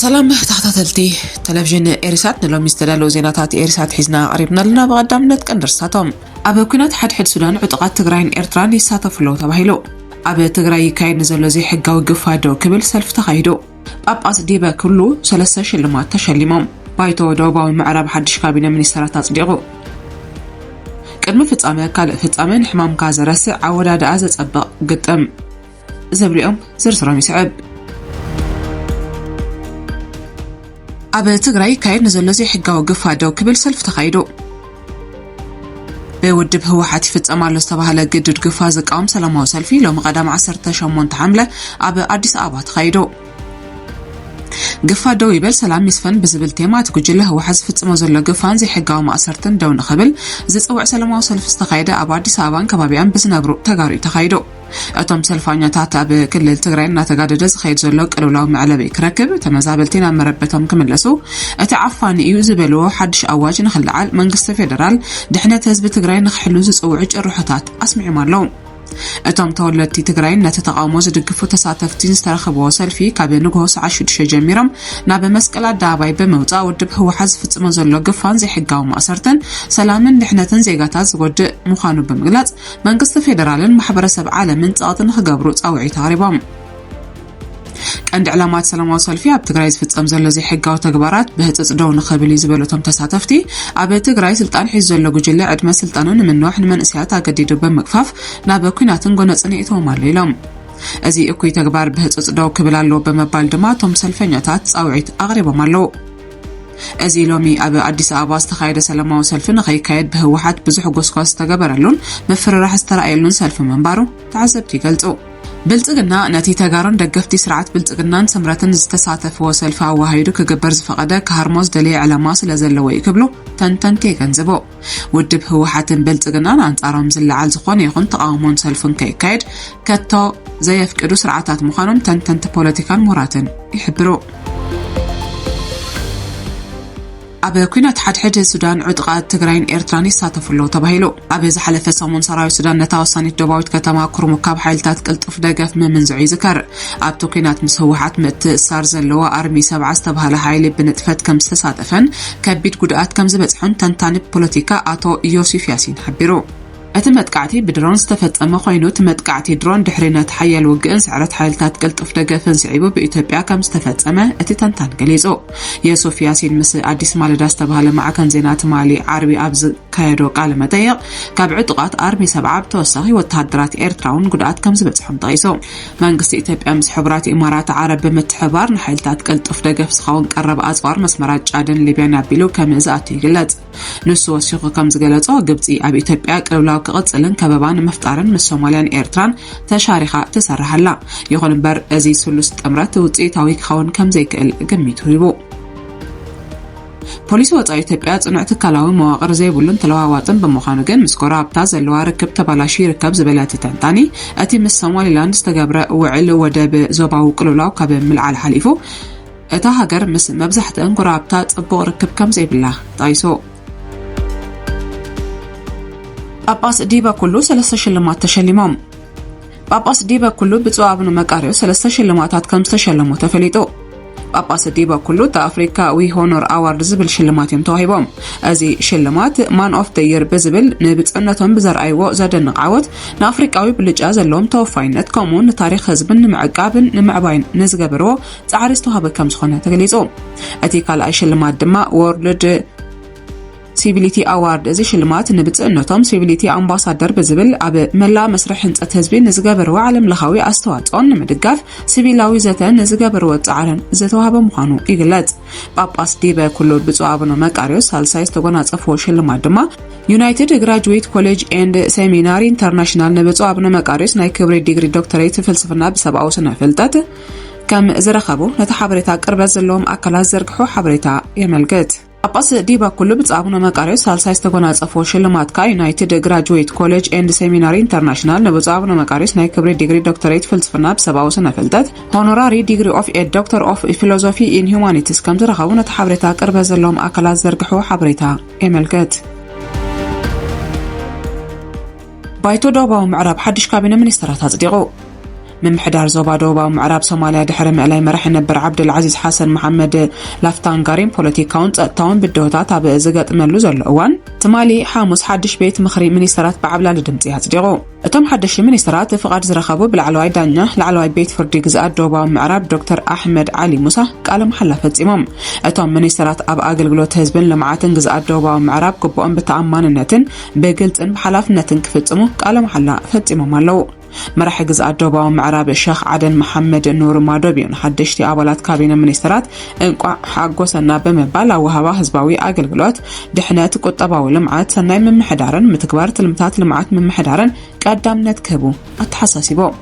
ሰላም ተኸታተልቲ ቴሌቭዥን ኤሪሳት ንሎሚ ዝተዳለዉ ዜናታት ኤሪሳት ሒዝና ኣቕሪብና ኣለና ብቐዳምነት ቀንዲ ርሳቶም ኣብ ኩናት ሓድሕድ ሱዳን ዕጡቓት ትግራይን ኤርትራን ይሳተፉ ኣለዉ ተባሂሉ ኣብ ትግራይ ይካየድ ንዘሎ ዘይሕጋዊ ግፋ ደው ክብል ሰልፊ ተኻይዱ ጳጳስ ዲበ ክሉ ሰለስተ ሽልማት ተሸሊሞም። ባይቶ ደቡባዊ ምዕራብ ሓድሽ ካቢነ ሚኒስተራት ኣጽዲቑ። ቅድሚ ፍጻመ ካልእ ፍጻመ ንሕማምካ ዘረስዕ ኣወዳድኣ ዘጸብቕ ግጥም ዝብልኦም ዝርዝሮም ይስዕብ። ኣብ ትግራይ ይካየድ ንዘሎ ዘይሕጋዊ ግፋ ደው ክብል ሰልፊ ተኻይዱ። ብውድብ ህወሓት ይፍፀም ኣሎ ዝተባህለ ግዱድ ግፋ ዝቃወም ሰላማዊ ሰልፊ ሎሚ ቀዳም 18 ሓምለ ኣብ ኣዲስ ኣበባ ተኻይዶ ግፋ ደው ይበል ሰላም ይስፈን ብዝብል ቴማ እቲ ጉጅለ ህወሓት ዝፍፅሞ ዘሎ ግፋን ዘይሕጋዊ ማእሰርትን ደው ንኽብል ዝፅውዕ ሰላማዊ ሰልፊ ዝተኻየደ ኣብ ኣዲስ ኣበባን ከባቢኣን ብዝነብሩ ተጋሩ ተኻይዶ እቶም ሰልፋኛታት ኣብ ክልል ትግራይ እናተጋደደ ዝኸይድ ዘሎ ቅልውላው መዕለቢ ክረክብ ተመዛበልቲ ናብ መረበቶም ክምለሱ እቲ ዓፋኒ እዩ ዝበልዎ ሓድሽ ኣዋጅ ንክለዓል መንግስቲ ፌደራል ድሕነት ህዝቢ ትግራይ ንክሕሉ ዝፅውዑ ጭርሖታት ኣስሚዖም ኣለዉ። እቶም ተወለድቲ ትግራይን ነቲ ተቓውሞ ዝድግፉ ተሳተፍቲን ዝተረኸብዎ ሰልፊ ካብ ንግሆ ሰዓት 6 ጀሚሮም ናብ መስቀል ኣደባባይ ብምውፃእ ውድብ ህወሓት ዝፍፅሞ ዘሎ ግፋን ዘይሕጋዊ ማእሰርትን ሰላምን ድሕነትን ዜጋታት ዝጎድእ ምዃኑ ብምግላፅ መንግስቲ ፌደራልን ማሕበረሰብ ዓለምን ጸቕጢ ንክገብሩ ጻውዒት ኣቕሪቦም። ቀንዲ ዕላማት ሰላማዊ ሰልፊ ኣብ ትግራይ ዝፍጸም ዘሎ ዘይሕጋዊ ተግባራት ብህፅፅ ደው ንክብል እዩ ዝበሉ እቶም ተሳተፍቲ ኣብ ትግራይ ስልጣን ሒዙ ዘሎ ጉጅለ ዕድመ ስልጣኑ ንምንዋሕ ንመንእሰያት ኣገዲዱ ብምግፋፍ ናብ ኩናትን ጎነፅን የእትዎም ኣሎ ኢሎም። እዚ እኩይ ተግባር ብህፁፅ ደው ክብል ኣለዎ ብምባል ድማ እቶም ሰልፈኛታት ፃውዒት ኣቕሪቦም ኣለዉ። እዚ ሎሚ ኣብ ኣዲስ ኣበባ ዝተኻየደ ሰላማዊ ሰልፊ ንኸይካየድ ብህወሓት ብዙሕ ጎስጓስ ዝተገበረሉን ምፍርራሕ ዝተረኣየሉን ሰልፊ ምንባሩ ተዓዘብቲ ይገልጹ። ብልጽግና ነቲ ተጋሩን ደገፍቲ ስርዓት ብልጽግናን ስምረትን ዝተሳተፍዎ ሰልፊ ኣወሃሂዱ ክግበር ዝፈቐደ ክሃርሞ ዝደለየ ዕላማ ስለ ዘለዎ እዩ ክብሉ ተንተንቲ የገንዝቡ። ውድብ ህወሓትን ብልፅግናን ኣንፃሮም ዝለዓል ዝኾነ ይኹን ተቓውሞን ሰልፍን ከይካየድ ከቶ ዘየፍቅዱ ስርዓታት ምዃኖም ተንተንቲ ፖለቲካን ምሁራትን ይሕብሩ። ኣብ ኩናት ሓድሕድ ሱዳን ዕጥቓት ትግራይን ኤርትራን ይሳተፉ ኣለዉ ተባሂሉ ኣብ ዝሓለፈ ሰሙን ሰራዊት ሱዳን ነታ ወሳኒት ደባዊት ከተማ ኩርሙ ካብ ሓይልታት ቅልጡፍ ደገፍ ምምንዝዑ ይዝከር ኣብቲ ኩናት ምስ ህወሓት ምትእሳር ዘለዎ ኣርሚ ሰብዓ ዝተባሃለ ሓይሊ ብንጥፈት ከም ዝተሳተፈን ከቢድ ጉድኣት ከምዝበፅሖን ተንታኒ ፖለቲካ ኣቶ ዮሲፍ ያሲን ሓቢሩ። እቲ መጥቃዕቲ ብድሮን ዝተፈጸመ ኮይኑ፣ እቲ መጥቃዕቲ ድሮን ድሕሪ ነቲ ሓያል ውግእን ስዕረት ሓይልታት ቅልጡፍ ደገፍን ስዒቡ ብኢትዮጵያ ከምዝተፈጸመ እቲ ተንታኒ ገሊጹ። ዮሱፍ ያሲን ምስ ኣዲስ ማለዳ ዝተባህለ ማዕከን ዜና ትማሊ ዓርቢ ኣብ ዝካየዶ ቃለ መጠይቕ ካብ ዕጡቓት ኣርሚ ሰብዓ ብተወሳኺ ወተሃደራት ኤርትራውን ጉድኣት ከምዝበጽሖም ጠቒሱ። መንግስቲ ኢትዮጵያ ምስ ሕቡራት ኢማራት ዓረብ ብምትሕብባር ንሓይልታት ቅልጡፍ ደገፍ ዝኸውን ቀረብ ኣጽዋር መስመራት ጫድን ሊብያን ኣቢሉ ከምዝኣቱ ይግለጽ። ንሱ ወሲኹ ከምዝገለጾ፣ ግብጺ ኣብ ኢትዮጵያ ቅልውላው ክቕጽልን ከበባ ንምፍጣርን ምስ ሶማልያን ኤርትራን ተሻሪኻ ትሰርሕ ኣላ። ይኹን እምበር እዚ ስሉስ ጥምረት ውጽኢታዊ ክኸውን ከምዘይክእል ግሚቱ ሂቡ። ፖሊሲ ወፃኢ ኢትዮጵያ ፅኑዕ ትካላዊ መዋቕር ዘይብሉን ተለዋዋጥን ብምዃኑ ግን ምስ ጎረባብታ ዘለዋ ርክብ ተባላሹ ይርከብ ዝበለ እቲ ተንታኒ እቲ ምስ ሶማሊላንድ ዝተገብረ ውዕል ወደብ ዞባዊ ቅልውላው ካብ ምልዓል ሓሊፉ እታ ሃገር ምስ መብዛሕትአን ጎረባብታ ጽቡቕ ርክብ ከም ዘይብላ ጠቒሱ ጳጳስ ዲበ ኩሉ ሰለስተ ሽልማት ተሸሊሞም ጳጳስ ዲበ ኩሉ ብፁዕ ኣቡነ መቃርዮስ ሰለስተ ሽልማታት ከም ዝተሸለሙ ተፈሊጡ። ጳጳስ ዲበ ኩሉ እቲ ኣፍሪካዊ ሆኖር ኣዋርድ ዝብል ሽልማት እዮም ተዋሂቦም። እዚ ሽልማት ማን ኦፍ ደ ይር ብዝብል ንብፅዕነቶም ብዘርኣይዎ ዘደንቕ ዓወት ንኣፍሪቃዊ ብልጫ ዘለዎም ተወፋይነት ከምኡውን ንታሪክ ህዝብን ንምዕቃብን ንምዕባይን ንዝገበርዎ ፃዕሪ ዝተዋህበ ከም ዝኾነ ተገሊፁ። እቲ ካልኣይ ሽልማት ድማ ወርልድ ሲቪሊቲ ኣዋርድ እዚ ሽልማት ንብፅእነቶም ሲቪሊቲ ኣምባሳደር ብዝብል ኣብ መላእ መስርሕ ህንፀት ህዝቢ ንዝገበርዎ ዓለምለኻዊ ኣስተዋፅኦን ንምድጋፍ ሲቪላዊ ዘተ ንዝገበርዎ ፃዕርን ዝተዋህበ ምዃኑ ይግለፅ። ጳጳስ ዲበ ኩሉ ብፁዕ ኣቡነ መቃርዮስ ሳልሳይ ዝተጎናፀፍዎ ሽልማት ድማ ዩናይትድ ግራጅዌት ኮሌጅ ኤንድ ሴሚናሪ ኢንተርናሽናል ንብፁዕ ኣቡነ መቃርዮስ ናይ ክብሪ ዲግሪ ዶክተሬት ፍልስፍና ብሰብኣዊ ስነ ፍልጠት ከም ዝረኸቡ ነቲ ሓበሬታ ቅርበት ዘለዎም ኣካላት ዘርግሑ ሓበሬታ የመልክት። ጳጳስ ዲባ ኩሉ ብፁዕ ኣቡነ መቃርዮስ ሳልሳይ ዝተጎናጸፎ ሽልማት ከኣ ዩናይትድ ግራጁዌት ኮሌጅ ኤንድ ሴሚናሪ ኢንተርናሽናል ንብፁዕ ኣቡነ መቃርዮስ ናይ ክብሪ ዲግሪ ዶክተሬት ፍልስፍና ብሰብኣዊ ስነ ፍልጠት ሆኖራሪ ዲግሪ ኦፍ ኤድ ዶክተር ኦፍ ፊሎዞፊ ኢን ሁማኒቲስ ከም ዝረኸቡ ነቲ ሓበሬታ ቅርበት ዘለዎም ኣካላት ዝዘርግሕዎ ሓበሬታ የመልክት። ባይቶ ደቡባዊ ምዕራብ ሓድሽ ካቢነ ሚኒስተራት ኣጽዲቑ። ምምሕዳር ዞባ ደቡባዊ ምዕራብ ሶማልያ ድሕሪ ምእላይ መራሒ ነበር ዓብደልዓዚዝ ሓሰን መሓመድ ላፍታንጋሪን ፖለቲካውን ጸጥታውን ብድሆታት ኣብ ዝገጥመሉ ዘሎ እዋን ትማሊ ሓሙስ ሓድሽ ቤት ምኽሪ ሚኒስተራት ብዓብላሊ ድምፂ ኣጽዲቑ እቶም ሓደሽ ሚኒስተራት ፍቓድ ዝረኸቡ ብላዕለዋይ ዳኛ ላዕለዋይ ቤት ፍርዲ ግዝኣት ደቡባዊ ምዕራብ ዶክተር ኣሕመድ ዓሊ ሙሳ ቃለ መሓላ ፈጺሞም እቶም ሚኒስተራት ኣብ ኣገልግሎት ህዝብን ልምዓትን ግዝኣት ደቡባዊ ምዕራብ ግቡኦም ብተኣማንነትን ብግልፅን ብሓላፍነትን ክፍጽሙ ቃለ መሓላ ፈጺሞም ኣለዉ መራሒ ግዝኣት ደቡባዊ ምዕራብ ሸኽ ዓደን መሓመድ ኑር ማዶቢዮ ንሓደሽቲ ኣባላት ካቢነ ሚኒስትራት እንቋዕ ሓጎሰና ብምባል ኣወሃባ ህዝባዊ ኣገልግሎት፣ ድሕነት፣ ቁጠባዊ ልምዓት፣ ሰናይ ምምሕዳርን ምትግባር ትልምታት ልምዓት ምምሕዳርን ቀዳምነት ክህቡ ኣተሓሳሲቦም።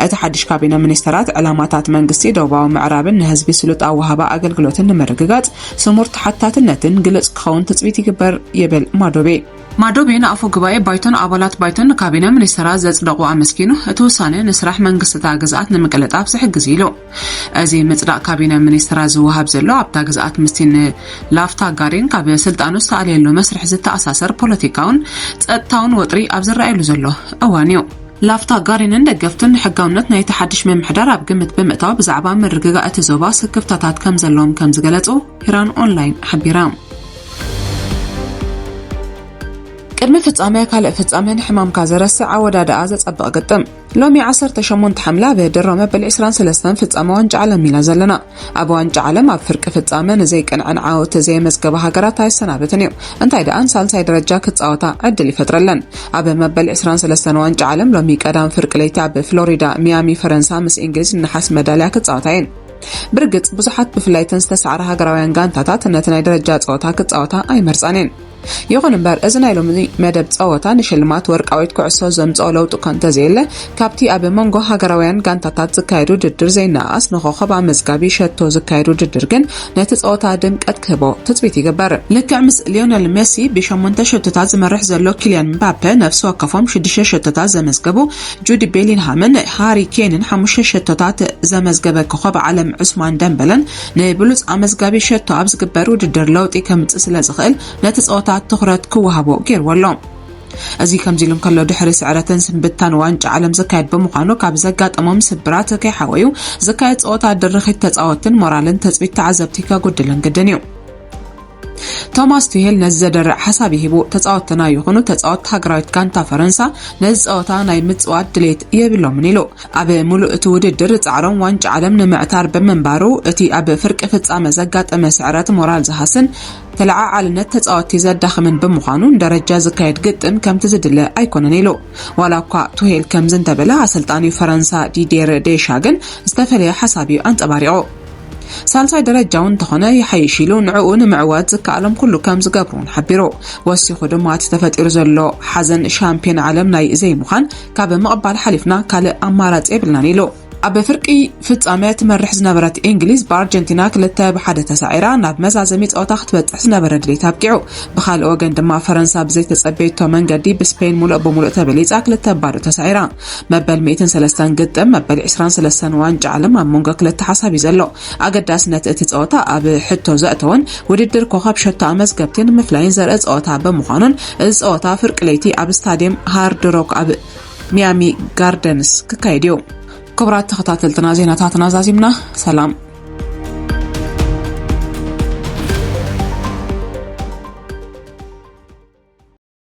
እቲ ሓድሽ ካቢነ ሚኒስተራት ዕላማታት መንግስቲ ደቡባዊ ምዕራብን ንህዝቢ ስሉጥ ኣወሃባ ኣገልግሎትን ንምርግጋጽ ስሙር ተሓታትነትን ግልጽ ክኸውን ትጽቢት ይግበር ይብል ማዶቤ። ማዶቤ ንኣፈ ጉባኤ ባይቶን ኣባላት ባይቶን ንካቢነ ሚኒስተራት ዘጽደቑ ኣመስጊኑ፣ እቲ ውሳነ ንስራሕ መንግስቲ እታ ግዝኣት ንምቅልጣፍ ዝሕግዝ እዩ ኢሉ። እዚ ምጽዳቕ ካቢነ ሚኒስተራት ዝወሃብ ዘሎ ኣብታ ግዝኣት ምስቲ ንላፍታ ጋሪን ካብ ስልጣኑ ዝተኣልየሉ መስርሕ ዝተኣሳሰር ፖለቲካውን ጸጥታውን ወጥሪ ኣብ ዝረኣየሉ ዘሎ እዋን እዩ። ላፍታ ጋሪንን ደገፍቱን ንሕጋውነት ናይቲ ሓድሽ ምምሕዳር ኣብ ግምት ብምእታው ብዛዕባ ምርግጋእ እቲ ዞባ ስክፍታታት ከምዘለዎም ከምዝገለጹ ኢራን ኦንላይን ሓቢራ። ቅድሚ ፍጻመ ካልእ ፍጻመ ንሕማምካ ዘረስዕ ኣወዳድኣ ዘጸብቕ ግጥም ሎሚ 18 ሓምለ ኣብ ድሮ መበል 23 ፍጻመ ዋንጫ ዓለም ኢና ዘለና ኣብ ዋንጫ ዓለም ኣብ ፍርቂ ፍጻመ ንዘይቅንዕን ዓወት ዘየመዝገባ ሃገራት ኣይሰናበትን እዩ እንታይ ደኣ ንሳልሳይ ደረጃ ክጻወታ ዕድል ይፈጥረለን ኣብ መበል 23 ዋንጫ ዓለም ሎሚ ቀዳም ፍርቂ ለይቲ ኣብ ፍሎሪዳ ሚያሚ ፈረንሳ ምስ እንግሊዝ ንሓስ መዳልያ ክጻወታ እየን ብርግጽ ብዙሓት ብፍላይ እተን ዝተሳዕራ ሃገራውያን ጋንታታት ነቲ ናይ ደረጃ ጸወታ ክጻወታ ኣይመርጻን እየን። ይኹን እምበር እዚ ናይ ሎሚ መደብ ጸወታ ንሽልማት ወርቃዊት ኩዕሶ ዘምጽኦ ለውጢ እኳ እንተዘየለ ካብቲ ኣብ መንጎ ሃገራውያን ጋንታታት ዝካየድ ውድድር ዘይነኣኣስ ንኮኸብ ኣመዝጋቢ ሸቶ ዝካየድ ውድድር ግን ነቲ ጸወታ ድምቀት ክህቦ ትጽቢት ይግበር ልክዕ ምስ ሊዮነል ሜሲ ብሸሞንተ ሸቶታት ዝመርሕ ዘሎ ኪልያን ምባፔ ነፍሲ ወከፎም ሽዱሽተ ሸቶታት ዘመዝገቡ ጁድ ቤሊንሃምን ሃሪ ኬንን ሓሙሽተ ሸቶታት ዘመዝገበ ኮኸብ ዓለም ዑስማን ደምበለን ንብሉጽ ኣመዝጋቢ ሸቶ ኣብ ዝግበር ውድድር ለውጢ ከምጽእ ስለ ዝኽእል ነቲ ጸወታ ትኹረት ክወሃቦ ገይርዎ ኣሎ። እዚ ከምዚ ኢሉ እንከሎ ድሕሪ ስዕረትን ስንብታን ዋንጫ ዓለም ዝካየድ ብምዃኑ ካብ ዘጋጠሞም ስብራት ከይሓወዩ ዝካየድ ጸወታ ድርኺት ተጻወትን ሞራልን ትጽቢት ተዓዘብቲ ከጉድልን ግድን እዩ። ቶማስ ቱሄል ነዚ ዘደርዕ ሓሳብ ይህቦ፣ ተጻወትትና ይኹኑ ተጻወት ሃገራዊት ጋንታ ፈረንሳ ነዚ ጸወታ ናይ ምጽዋት ድሌት የብሎምን ኢሉ። ኣብ ምሉእ እቲ ውድድር ጻዕሮም ዋንጫ ዓለም ንምዕታር ብምንባሩ እቲ ኣብ ፍርቂ ፍጻመ ዘጋጠመ ስዕረት ሞራል ዝሃስን ተለዓዓልነት ተጻወትቲ ዘዳኽምን ብምዃኑ ንደረጃ ዝካየድ ግጥም ከምቲ ዝድለ ኣይኮነን ኢሉ። ዋላ እኳ ቱሄል ከምዚ እንተበለ ኣሰልጣኒ ፈረንሳ ዲዴር ዴሻ ግን ዝተፈለየ ሓሳብ እዩ ኣንጸባሪቑ። ሳልሳይ ደረጃ እውን እንተኾነ ይሓይሽ ኢሉ ንዕኡ ንምዕዋት ዝከኣሎም ኩሉ ከም ዝገብሩ እውን ሓቢሩ ወሲኹ ድማ እቲ ተፈጢሩ ዘሎ ሓዘን ሻምፒዮን ዓለም ናይ ዘይምዃን ካብ ምቕባል ሓሊፍና ካልእ ኣማራፂ የብልናን ኢሉ ኣብ ፍርቂ ፍጻመ ትመርሕ ዝነበረት እንግሊዝ ብኣርጀንቲና ክልተ ብሓደ ተሳዒራ ናብ መዛዘሚ ጸወታ ክትበጽሕ ዝነበረ ድሌት ኣብቂዑ ብካልእ ወገን ድማ ፈረንሳ ብዘይተጸበየቶ መንገዲ ብስፔን ሙሉእ ብምሉእ ተበሊጻ ክልተ ባዶ ተሳዒራ መበል ሚእትን ሰለስተን ግጥም መበል ዕስራን ሰለስተን ዋንጫ ዓለም ኣብ መንጎ ክልተ ሓሳብ እዩ ዘሎ። ኣገዳስነት እቲ ጸወታ ኣብ ሕቶ ዘእተወን ውድድር ኮኸብ ሸቶ ኣመዝገብቲን ምፍላይን ዘርኢ ጸወታ ብምዃኑን እዚ ጸወታ ፍርቂ ለይቲ ኣብ ስታዲየም ሃርድ ሮክ ኣብ ሚያሚ ጋርደንስ ክካየድ እዩ። ክቡራት ተኸታተልትና ዜናታትና ዛዚምና ሰላም።